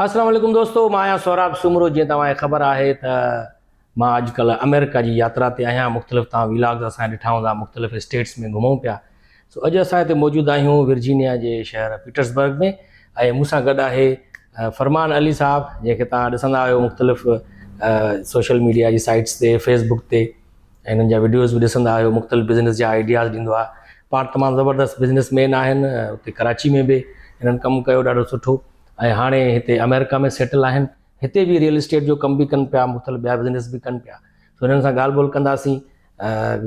السلام عليڪم دوستو مان آهيان سهراب سومرو جيئن توهان کي خبر آهي ته مان اڄ ڪلهه آمريڪا جي ياترا تي آهيان مختلف توهان ويلاگز اسان ڏٺا هوندا مختلف اسٽيٽس ۾ گهمون پيا سو اڄ اسان هتي موجود آهيون ورجينيا جي شهر پيٽرسبرگ ۾ ۽ مون سان گڏ آهي فرمان علي صاحب جنهن کي توهان ڏسندا آهيو مختلف سوشل ميڊيا جي سائيٽس تي فيس بڪ تي ۽ هنن جا ويڊيوز به ڏسندا آهيو مختلف بزنس جا آئيڊياز ڏيندو آهي پاڻ تمام زبردست بزنس مين آهن اتي ڪراچي ۾ به هنن ڪم ڪيو ڏاڍو سٺو ۽ هاڻي هتي آمريڪا ۾ سيٽل آهن هتي به ريئل اسٽيٽ جو ڪم به ڪن پيا مختلف ٻيا بزنس به ڪن پيا سو هنن سان ڳالهه ٻولهه ڪنداسين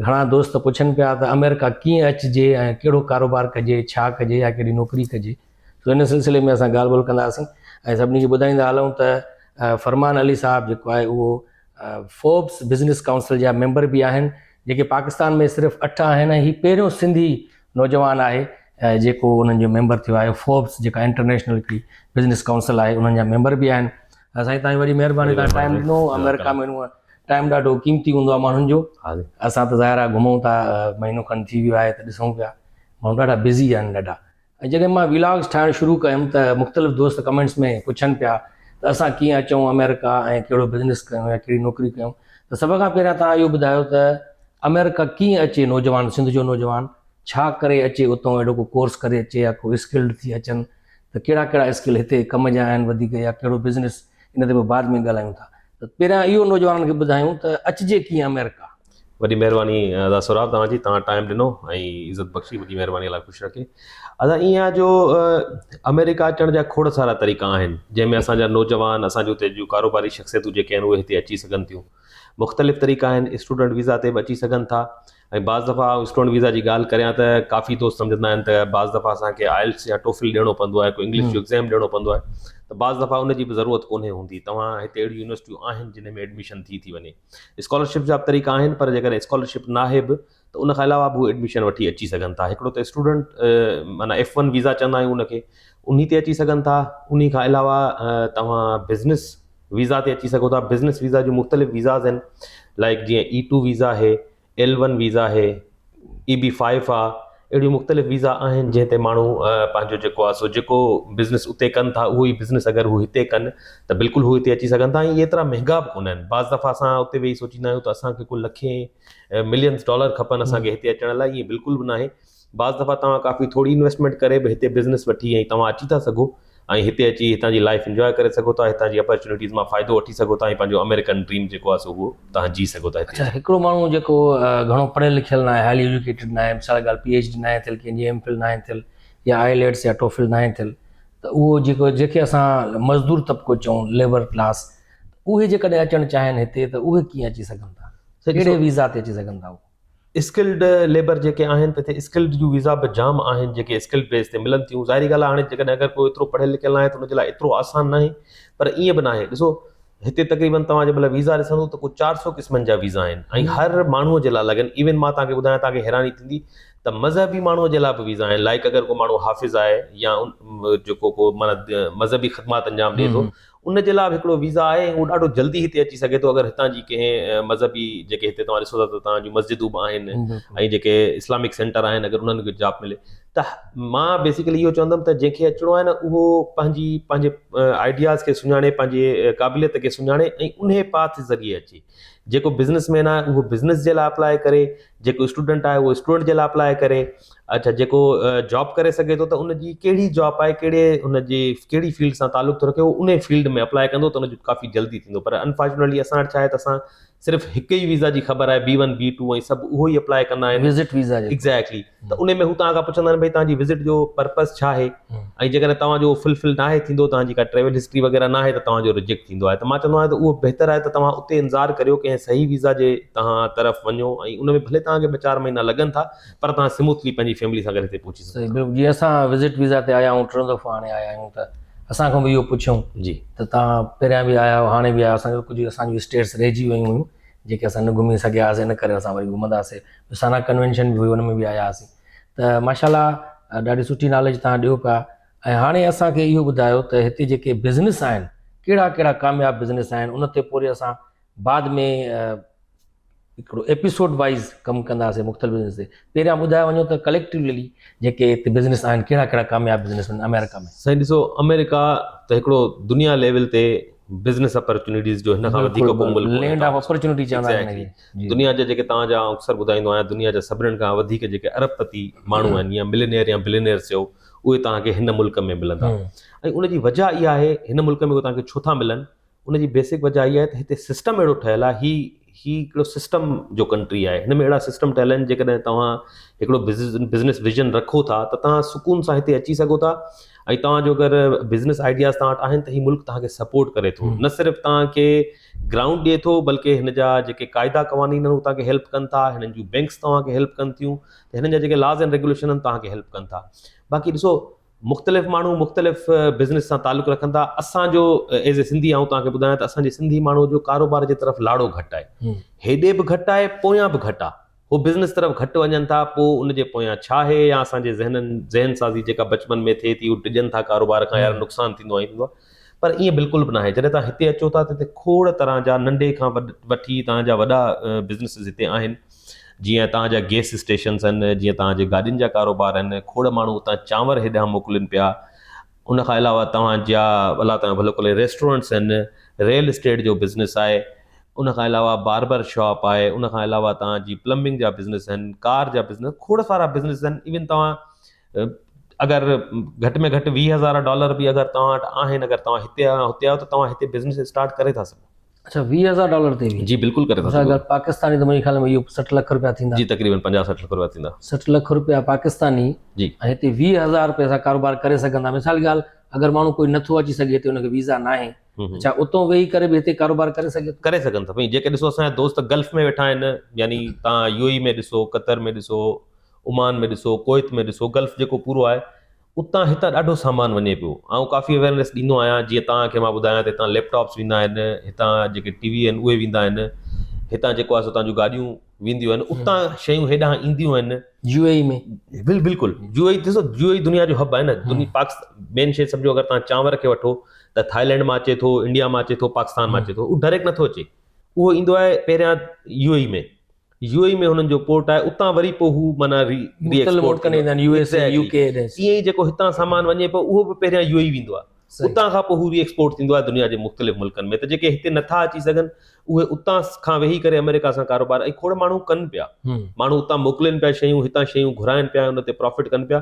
گهڻا دوست پڇن پيا ته آمريڪا ڪيئن اچجي ۽ ڪهڙو ڪاروبار ڪجي ڇا ڪجي يا ڪهڙي نوڪري ڪجي سو هن سلسلي ۾ اسان ڳالهه ٻولهه ڪنداسين ۽ سڀني کي ٻڌائيندا هلون ته فرمان علي صاحب جيڪو آهي اهو فوربس بزنس ڪائونسل جا ميمبر به آهن جيڪي پاڪستان ۾ صرف اٺ آهن ۽ هي پهريون سنڌي نوجوان آهي جيڪو انهن جو ميمبر ٿيو آهي فوربس جيڪا انٽرنيشنل هڪڙي بزنس ڪائونسل آهي انهن جا ميمبر به آهن سائين تانجي وڏي مهرباني تان ٽائم ڏنو آمريڪا ۾ هونئن ٽائم ڏاڍو قيمتي هوندو آهي ماڻهن جو اسان ته ظاهر آهي گهمون ٿا مهينو کن ٿي ويو آهي ته ڏسون پيا ماڻهو ڏاڍا بزي آهن ڏاڍا ۽ جڏهن مان ويلاگز ٺاهڻ شروع ڪيم ته مختلف دوست ڪمينٽس ۾ پڇن پيا ته اسان ڪيئن اچون آمريڪا ۽ ڪهڙو بزنس ڪيون يا ڪهڙي نوڪري ڪيون ته سڀ کان پهريان توهان اهو ٻڌايو ته آمريڪا ڪيئن اچي نوجوان سنڌ جو نوجوان ڇا ڪري اچي اتئون اهڙو ڪو ڪورس ڪري اچي يا ڪو اسڪلڊ ٿي اچن ته ڪهڙا ڪهڙا اسڪل هتي ڪم جا آهن وڌيڪ يا ڪهڙو بزنس ان تي به بعد ۾ ڳالهايون ٿا ته پهريان اهو نوجوانن کي ٻڌايون ته اچجي ڪيئن آمريڪا. وڏي مهرباني ادا سهراب توهان جي توهان ٽائيم ڏنو ۽ عزت بخشي وڏي مهرباني الله خوش رکي ادا ائين آهي جو آمريڪا اچڻ جا کوڙ سارا طريقا آهن جنهن ۾ اسان جا نوجوان اسان جي اتي جون ڪاروباري شخصيتون جيڪي آهن اهي هتي اچي سگهن ٿيون مختلف طريقا آهن اسٽوڊنٽ ويزا تي به اچي سگهن ٿا ۽ بعض دفعا اسٽوڊنٽ ويزا جي ڳالهه ڪريان ته ڪافي دوست سمجهندا آهن ته بعض دفعا اسانکي آئلس يا ٽوفل ڏيڻو پوندو آهي ڪو انگلش جو ايگزام ڏيڻو پوندو آهي ته بعض دفعا ان جي به ضرورت ڪونهي هوندي توهان هتي اهڙيون يونيورسٽيون آهن جن ۾ ايڊميشن ٿي ٿي وڃي اسڪالرشپ جا به طريقا آهن پر جيڪڏهن اسڪالرشپ ناهي به ته ان کان علاوه به هو ايڊميشن وٺي اچي سگهن ٿا هڪڙو ته اسٽوڊنٽ معنيٰ ايف ون ويزا چوندا آهيون ان کي انهي تي اچي سگهن ٿا انهي کان علاوه توهان بزنس ويزا تي اچي سگهو ٿا بزنس ويزا جون مختلف ويزاز آهن لائڪ جيئن اي ٽو ويزا آهي ايل ون ويزا آهي، اي بي فائيو آ، اهڙيون مختلف ويزا آهن جنهن تي ماڻهو پنهنجو جيڪو آ سو جيڪو بزنس اتي ڪن ٿا اهو ئي بزنس اگر هو هتي ڪن ته بلڪل هو هتي اچي سگهن ٿا ۽ ايترا مهنگا به ڪونه آهن بعض دفعا اسان اتي ويهي سوچيندا آهيون ته اسان کي ڪو لکين ملينس ڊالر کپن اسان کي هتي اچڻ لاء ائين بلڪل به ناهي بعض دفعا توهان ڪافي ٿوري انويسٽمينٽ ڪري به هتي بزنس وٺي ۽ توهان اچي ٿا سگهو ۽ هتي اچي هتان جي لائيف انجواء ڪري سگهو ٿا هتان جي اپرچونيٽيز مان فائدو وٺي سگهو ٿا ۽ پنهنجو آمريڪن ڊريم جيڪو آهي سو اهو توهان جي سگهو ٿا اچا هڪڙو ماڻهو جيڪو گهڻو پڙهيل لکيل ناهي هائلي ايجوڪيٽيڊ ناهي مثال جي ڳالهه پي ايڇ ڊي ناهي ٿيل ڪنهن جي ايم فل ناهي ٿيل يا آئي ليٽس يا ٽوفل ناهي ٿيل ته اهو جيڪو جيڪي اسان مزدور طبقو چئون ليبر ڪلاس اهي جيڪڏهن اچڻ چاهين هتي ته اهي ڪيئن اچي سگهن ٿا ڪهڙي ويزا تي اچي سگهن ٿا اهو اسڪلڊ ليبر جيڪي آهن ته اتي اسڪلڊ جون ويزا به جام آهن جيڪي اسڪلڊ بيس تي ملن ٿيون ظاهري ڳالهه آهي هاڻي جيڪڏهن اگر ڪو ايترو پڙهيل لکيل ناهي ته ان جي لاء ايترو آسان ناهي پر ائين به ناهي ڏسو هتي تقريبن توهان جي مل ويزا ڏسندو ته ڪو چار سؤ قسمن جا ويزا آهن ۽ هر ماڻهو جي لاء لڳن ايون مان توهان کي ٻڌايان توهان کي حيراني ٿيندي ته مذهبي ماڻهو جي لاء به ويزا آهن لائڪ اگر ڪو ماڻهو حافظ آهي يا جيڪو ڪو مذهبي خدمات انجام ڏي ٿو ان جي لاء به هڪڙو ويزا آهي ۽ هو ڏاڍو جلدي هتي اچي سگهي ٿو اگر هتان جي ڪنهن مذهبي جيڪي هتي توهان ڏسو ٿا ته توهان جون مسجدون به آهن ۽ جيڪي اسلامڪ سينٽر آهن اگر انهن کي جاب ملي ته مان بيسڪلي اهو چوندم ته جنهن کي اچڻو آهي نه اهو پنهنجي پنهنجي آئيڊياز کي سڃاڻي پنهنجي قابليت کي سڃاڻي ۽ انهي پاٿ ذريعي اچي جيڪو بزنس مين آهي اهو بزنس جي لاء اپلاء ڪري جيڪو اسٽوڊنٽ آهي اهو اسٽوڊنٽ جي لاء اپلاء ڪري اڇا جيڪو جاب ڪري سگهي ٿو ته ان جي ڪهڙي جاب آهي ڪهڙي ان جي ڪهڙي فيلڊ سان تعلق ٿو رکي هو ان فيلڊ ۾ اپلاء ڪندو ته ان جو ڪافي جلدي ٿيندو پر انفارچونيٽلي اسان وٽ شايد اسان صرف هڪ ئي ويزا جي خبر آهي بي ون بي ٽو ۽ سڀ اهو ئي اپلاء ڪندا آهن وزٽ ويزا ايگزيڪٽلي ته ان ۾ هو توهان کان پڇندا آهن بھي توهان جي وزٽ جو پرپز ڇا آهي ۽ جيڪڏهن توهان جو فلفل نه آهي ٿيندو توهان جي ڪا ٽريول هسٽري وغيره نه آهي ته توهان جو رجيڪٽ ٿيندو آهي ته مان چوندو آهيان ته اهو بهتر آهي ته توهان اتي انتظار ڪريو ڪنهن صحيح ويزا جي توهان طرف وڃو ۽ ان ۾ ڀلي توهان کي ٻه چار مهينا لڳن ٿا پر تهان سموٿلي پنهنجي فيملي سان گڏ هتي پهچي سگهو ٿا. جي اسان وزٽ ويزا تي آيا آهيون ٽيون دفعو هاڻي آيا آهيون ته اسان کان به اهو پڇيون ته تهان پهريان به آيا آهيو هاڻي به آيا آهيو اسان کي ڪجهه اسان جون اسٽيٽس رهجي ويون هيون جيڪي اسان نه گهمي سگهيا هئاسي ان ڪري اسان وري گهمنداسي سانا ڪنوينشن به هئي ان ۾ به آيا هئاسي ته ماشاء الله ڏاڍي سٺي ناليج تهان ڏيو پيا ۽ هاڻي اسان کي اهو ٻڌايو ته هتي جيڪي بزنس آهن ڪهڙا ڪهڙا ڪامياب بزنس آهن ان تي پوري اسان بعد ۾ هڪڙو ايپيسوڊ وائيز ڪم ڪنداسين مختلف بزنس تي پهريان ٻڌايو وڃو ته ڪليڪٽيولي جيڪي هتي بزنس آهن ڪهڙا ڪهڙا ڪامياب بزنس آهن آمريڪا ۾ سائين ڏسو آمريڪا ته هڪڙو دنيا ليول تي بزنس اپرچونيٽيز جو هن کان وڌيڪ ڪو ملڪ ڪونهي لينڊ آف اپرچونيٽي چوندا آهن انهن کي دنيا جا جيڪي توهان جا اڪثر ٻڌائيندو آهيان دنيا جا سڀنن کان وڌيڪ جيڪي ارب پتي ماڻهو آهن يا ملينيئر يا بلينيئر چئو اهي توهان کي هن ملڪ ۾ ملندا ۽ ان جي وجهه اها آهي هن ملڪ ۾ اهي توهان کي ڇو ٿا ملن ان جي بيسڪ وجه اها آهي ته هتي سسٽم اهڙو ٺهيل آهي، هي هي هڪڙو سسٽم جو ڪنٽري آهي، هن ۾ اهڙا سسٽم ٺهيل آهن جيڪڏهن توهان هڪڙو بزنس ويزن رکو ٿا ته توهان سڪون سان هتي اچي سگهو ٿا ۽ توهان جو اگر بزنس آئيڊياز توهان وٽ آهن ته هي ملڪ توهان کي سپورٽ ڪري ٿو نه صرف توهان کي گرائونڊ ڏئي ٿو بلڪه هن جا جيڪي قاعدا قوانين آهن هو توهان کي هيلپ ڪن ٿا هنن جون بينڪس توهان کي هيلپ ڪن ٿيون هنن جا جيڪي لاز اينڊ ريگوليشن آهن توهان کي هيلپ ڪن ٿا باقي ڏسو مختلف ماڻهو مختلف بزنس سان تعلق رکن ٿا اسان جو ايز اي سنڌي آئون توهان کي ٻڌايان ته اسان جي سنڌي ماڻهو جو ڪاروبار جي طرف لاڙو گهٽ آهي هيڏي به گهٽ آهي پويان به گهٽ آهي هو بزنس طرف گهٽ وڃن ٿا پوء ان جي پويان ڇا آهي يا اسان جي ذهنن ذهن سازي جيڪا بچپن ۾ ٿئي ٿي هو ڊڄن ٿا ڪاروبار کان يار نقصان ٿيندو آهي پر ائين بلڪل به ناهي. جڏهن توهان هتي اچو ٿا ته هتي کوڙ طرح جا ننڍي کان وٺي توهان جا وڏا بزنيسز هتي آهن. جيئن توهان جا گيس اسٽيشنز آهن، جيئن توهان جي گاڏين جا ڪاروبار آهن، کوڙ ماڻهو اتان چانور هيڏانهن موڪلين پيا. ان کان علاوه توهان جا الله توهان جو ڀلو ڪري ريسٽورنٽس آهن، ريل اسٽيٽ جو بزنيس آهي، ان کان علاوه باربر شاپ آهي، ان کان علاوه توهان جي پلمبنگ جا بزنيس آهن، ڪار جا بزنيس، کوڙ سارا بزنيس آهن. ايون توهان اگر گهٽ ۾ گهٽ ويهه هزار ڊالر به اگر توهان وٽ آهن اگر توهان هتي آهيو هتي آهيو ته توهان هتي بزنس اسٽارٽ ڪري ٿا سگهو. اڇا ويهه هزار ڊالر تي به. جي بلڪل ڪري ٿا سگهو. اگر پاڪستاني ته منهنجي خيال ۾ اهو سٺ لک روپيا ٿيندا. جي تقريبن پنجاهه سٺ لک روپيا ٿيندا. سٺ لک روپيا پاڪستاني جي ۽ هتي ويهه هزار روپيا سان ڪاروبار ڪري سگهندا مثال ڳالهه اگر ماڻهو ڪوئي نٿو اچي سگهي هتي ان کي ويزا ناهي ڇا اتو ويهي ڪري به هتي ڪاروبار ڪري سگهي ٿو. ڪري سگهن ٿا سائين جيڪي ڏسو اسان جا دوست گلف ۾ ويٺا آهن يعني تان يو اي ۾ ڏسو قطر ۾ ڏسو. عمان ۾ ڏسو، ڪويت ۾ ڏسو، گلف جيڪو پورو آهي، اتان هتان ڏاڍو سامان وڃي پيو. آئون ڪافي اويئرنيس ڏيندو آهيان، جيئن توهان کي مان ٻڌايان ته هتان ليپ ٽاپس ويندا آهن، هتان جيڪي ٽي وي آهن اهي ويندا آهن، هتان جيڪو آهي سو تان جون گاڏيون وينديون آهن، اتان شيون هيڏانهن اينديون آهن. U A E ۾؟ بل بلڪل يو اي اي ڏسو يو اي اي دنيا جو هب آهي نه دنيا پاڪستان مين شي سمجهو اگر توهان چانور کي وٺو ته ٿائلينڊ مان اچي ٿو انڊيا مان اچي ٿو پاڪستان مان اچي ٿو اهو ڊائريڪٽ نٿو اچي اهو ايندو آهي پهريان U A E ۾ U A E ۾ هنن جو پورٽ آهي اتان وري پوء هو معنيٰ ري ري ايڪسپورٽ ڪندا آهن U S A U K ايئن ئي جيڪو هتان سامان وڃي پيو اهو به پهريان يو اي اي ويندو آهي اتان کان پوء هو ري ايڪسپورٽ ٿيندو آهي دنيا جي مختلف ملڪن ۾ ته جيڪي هتي نٿا اچي سگهن اهي اتان کان ويهي ڪري آمريڪا سان ڪاروبار ۽ کوڙ ماڻهو ڪن پيا ماڻهو اتان موڪلين پيا شيون هتان شيون گهرائن پيا ان تي پرافٽ ڪن پيا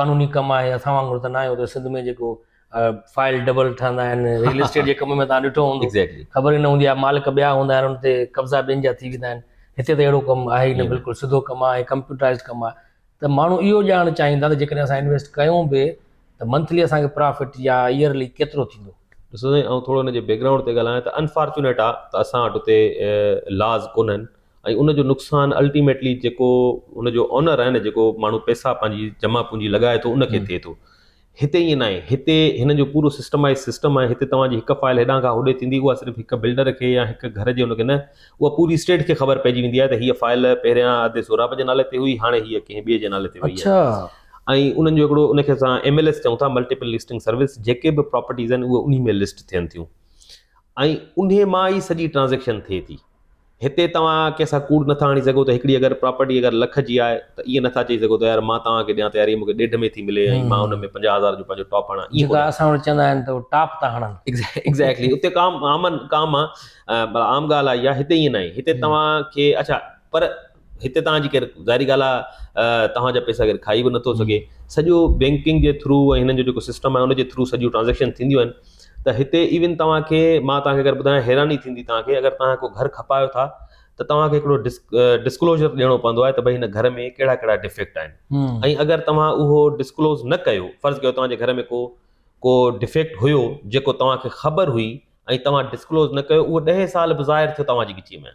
قانوني ڪم آهي اسان وانگر ته ناهي اتي سنڌ ۾ جيڪو فائل ڊبل ٺهندا آهن ريل اسٽيٽ جي ڪم ۾ تان ڏٺو هوندو خبر ئي نه هوندي آهي مالڪ ٻيا هوندا آهن ان تي قبضا ٻين جا ٿي ويندا آهن هتي ته اهڙو ڪم آهي نه بلڪل سڌو ڪم آهي ڪمپيوٽرائز ڪم آهي ته ماڻهو اهو ڄاڻڻ چاهيندا ته جيڪڏهن اسان انويسٽ ڪيون به ته منٿلي اسان کي پرافٽ يا ايئرلي ڪيترو ٿيندو ڏسو سائين آئون ٿورو ان جي بيڪگرائونڊ تي ڳالهايان ته انفارچونيٽ آهي ته اسان وٽ اتي لاز ڪونهن ۽ ان جو نقصان الٽيميٽلي جيڪو ان جو اونر آهي نه جيڪو ماڻهو پئسا پنهنجي جمع پونجي لڳائي ٿو ان کي ٿئي ٿو هتي ائين ناهي هتي هنن جو پورو سسٽمائز سسٽم آهي هتي توهان جي هڪ فائل هيڏانهن کان هوڏي ٿيندي اها صرف هڪ بلڊر کي يا هڪ گهر جي ان کي نه اها پوري اسٽيٽ کي خبر پئجي ويندي آهي ته هيء فائل پهريان ادي سهراب جي نالي تي هئي هاڻي هيء ڪنهن ٻئي جي نالي تي وئي آهي ۽ انهن جو هڪڙو ان کي اسان ايم ايل ايس چئون ٿا ملٽيپل لسٽنگ سروس جيڪي به پراپرٽيز آهن اهي انهي ۾ لسٽ ٿين ٿيون ۽ انهي مان ئي سڄي ٽرانزيڪشن ٿئي ٿي هتي توهان ڪنهن سان ڪوڙ نٿا هڻي سگهو ته هڪڙي اگر پراپرٽي اگر لک جي آهي ته ائين نٿا چئي سگهو ته يار مان توهان کي ڏيان ته يار هي مون کي ڏيڍ ۾ ٿي ملي ۽ مان ان ۾ پنجاهه هزار جو پنهنجو ٽاپ هڻان ائين ڪونه اسان وٽ چوندا آهن ته ٽاپ ٿا هڻن ايگزيڪٽلي اتي ڪام عام ڪام آهي عام ڳالهه آهي اها هتي ائين ناهي هتي توهان کي اڇا پر هتي توهان جي ڪير ظاهري ڳالهه آهي توهان جا پئسا ڪير کائي به نٿو سگهي سڄو بينڪنگ جي ٿرو ۽ هنن جو جيڪو سسٽم آهي ان جي ٿرو سڄيون ٽرانزيڪشن ٿينديون آهن ته هتي ايون توهان کي مان توهان کي اگر ٻڌايان حيراني ٿيندي توهان کي اگر توهان ڪو گهر کپايو ٿا ته توهان کي هڪڙو ڊس ڊسڪلوزر ڏيڻو پوندو آهي ته ڀائی هن گهر ۾ ڪهڙا ڪهڙا ڊفيڪٽ آهن ۽ اگر توهان اهو ڊسڪلوز نه ڪيو فرض ڪيو توهان جي گهر ۾ ڪو ڪو ڊفيڪٽ هيو جيڪو توهان کي خبر هئي ۽ توهان ڊسڪلوز نه ڪيو اهو ڏهه سال به ظاهر ٿيو توهان جي ڳچيء ۾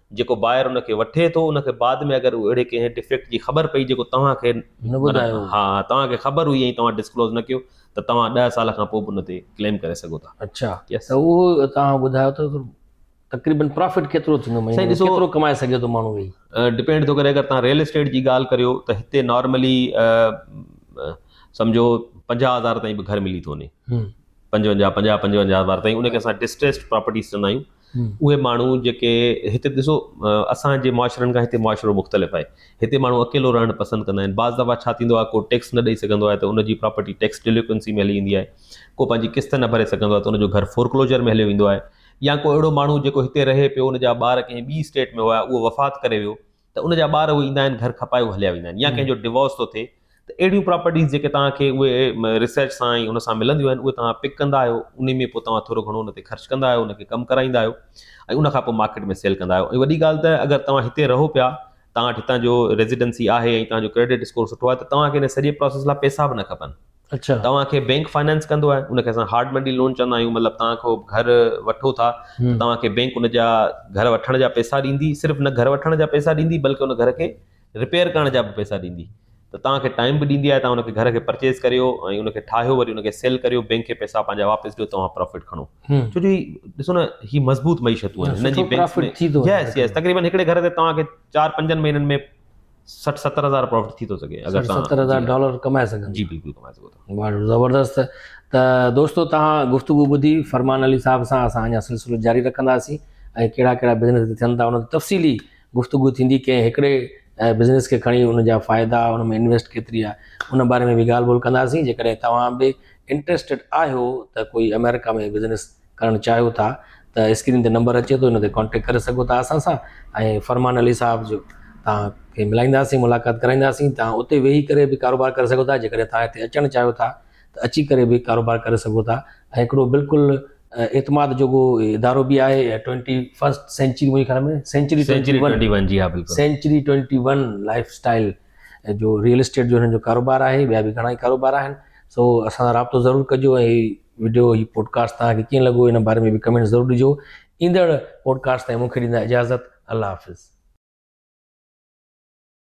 جيڪو باير ان کي وٺي ٿو ان کي بعد ۾ اگر اهڙي ڪنهن ڊفيڪٽ جي خبر پئي جيڪو توهان کي نه ٻڌايو هو. ها توهان کي خبر هئي ۽ توهان ڊسڪلوز نه ڪيو ته توهان ڏهه سال کان پوء به ان تي ڪليم ڪري سگهو ٿا اڇا Yes. ته اهو توهان ٻڌايو ته تقريبن پرافٽ ڪيترو ٿيندو سائين مهيني ڏسو- ڪيترو ڪمائي سگهي ٿو ماڻهو ويهي ڊپينڊ ٿو ڪري اگر توهان ريل اسٽيٽ جي ڳالهه ڪريو ته هتي نارملي سمجھو پنجاهه هزار تائين به گهر ملي ٿو وڃي هم. پنجونجاهه پنجاهه پنجونجاهه هزار تائين ان کي اسان ڊسٽريسڊ پراپرٽيز چوندا آهيون اهي ماڻهو جيڪي هتي ڏسو اسان جي معاشرن کان هتي معاشرو مختلف آهي هتي ماڻهو اڪيلو رهڻ پسند ڪندا آهن بعض دفعا ڇا ٿيندو آهي ڪو ٽيڪس نه ڏئي سگهندو آهي ته ان جي پراپرٽي ٽيڪس ڊيليڪوئنسي ۾ هلي ويندي آهي ڪو پنهنجي قسط نه ڀري سگهندو آهي ته ان جو گهر فورڪلوجر ۾ هليو ويندو آهي يا ڪو اهڙو ماڻهو جيڪو هتي رهي پيو ان جا ٻار ڪنهن ٻي اسٽيٽ ۾ هيا اهو وفات ڪري ويو ته ان جا ٻار اهي ايندا آهن گهر کپائي هليا ويندا آهن يا ڪنهن جو ڊوورس ٿو ٿئي ته اهڙيون پراپرٽيز جيڪي توهان کي اهي ريسرچ سان ۽ ان سان ملنديون آهن اهي توهان پڪ ڪندا آهيو انهي ۾ پوء توهان ٿورو گهڻو ان تي خرچ ڪندا آهيو ان کي ڪم ڪرائيندا آهيو ۽ ان کان پوء مارڪيٽ ۾ سيل ڪندا آهيو ۽ وڏي ڳالهه ته اگر توهان هتي رهو پيا توهان وٽ هتان جو ريزيڊنسي آهي ۽ توهان جو ڪريڊٽ اسڪور سٺو آهي ته توهان کي ان سڄي پراسيس لاء پئسا به نه کپن توهان کي بينڪ فنانس ڪندو آهي ان کي اسان هارڊ مني لون چوندا آهيون مطلب توهان کان گهر وٺو ٿا ته توهان کي بينڪ ان جا گهر وٺڻ جا پئسا ڏيندي صرف نه گهر وٺڻ جا پئسا ڏيندي بلڪه ان گهر کي رپيئر ڪرڻ جا به پئسا ڏيندي ته توهان کي ٽائم به ڏيندي آهي توهان ان کي گهر کي پرچيز ڪريو ۽ ان کي ٺاهيو وري ان کي سيل ڪريو بينڪ کي پئسا پنهنجا واپس ڏيو توهان پرافٽ کڻو ڇو جو هي ڏسو نه هي مضبوط معيشتون آهن هن جي بينڪ تقريبن هڪڙي گهر تي توهان کي چار پنجن مهينن ۾ سٺ ستر هزار پروفٽ ٿي ٿو سگهي اگر سٺ ستر هزار ڊالر ڪمائي سگهن جي بلڪل ڪمائي سگهو ٿا زبردست ته دوستو تان گفتگو ٻڌي فرمان علي صاحب سان اسان اڃا سلسلو جاري رکنداسين ۽ ڪهڙا ڪهڙا بزنس ٿين ٿا ان تفصيلي گفتگو ٿيندي ڪنهن هڪڙي بزنس کي کڻي ان جا فائدا ان ۾ انويسٽ کيتري آهي ان باري ۾ به ڳالهه ٻولهه ڪنداسين جيڪڏهن توهان به انٽرسٽيڊ آهيو ته ڪوئي امريڪا ۾ بزنس ڪرڻ چاهيو ٿا ته اسڪرين تي نمبر اچي ٿو ان تي ڪانٽيڪٽ ڪري سگهو ٿا اسان سان ۽ فرمان علي صاحب جو تان کي ملائينداسين ملاقات ڪرائينداسين تان اتي ويهي ڪري به ڪاروبار ڪري سگهو ٿا جيڪڏهن تان هتي اچڻ چاهيو ٿا ته اچي ڪري به ڪاروبار ڪري سگهو ٿا ۽ هڪڙو بلڪل اعتماد جوگو ادارو به آهي ۽ ٽوئنٽي فسٽ سينچري منهنجي خيال ۾ سينچري سينچري ٽوئنٽي ون جي ها بلڪل century twenty one lifestyle جو ريئل اسٽيٽ جو هن جو ڪاروبار آهي ٻيا به گهڻا ئي ڪاروبار آهن سو اسان سان رابطو ضرور ڪجو ۽ وڊيو هي پوڊڪاسٽ توهان کي ڪيئن لڳو ان باري ۾ به ڪمينٽ ضرور ڏجو ايندڙ پوڊڪاسٽ تائين مونکي ڏيندا اجازت الله حافظ.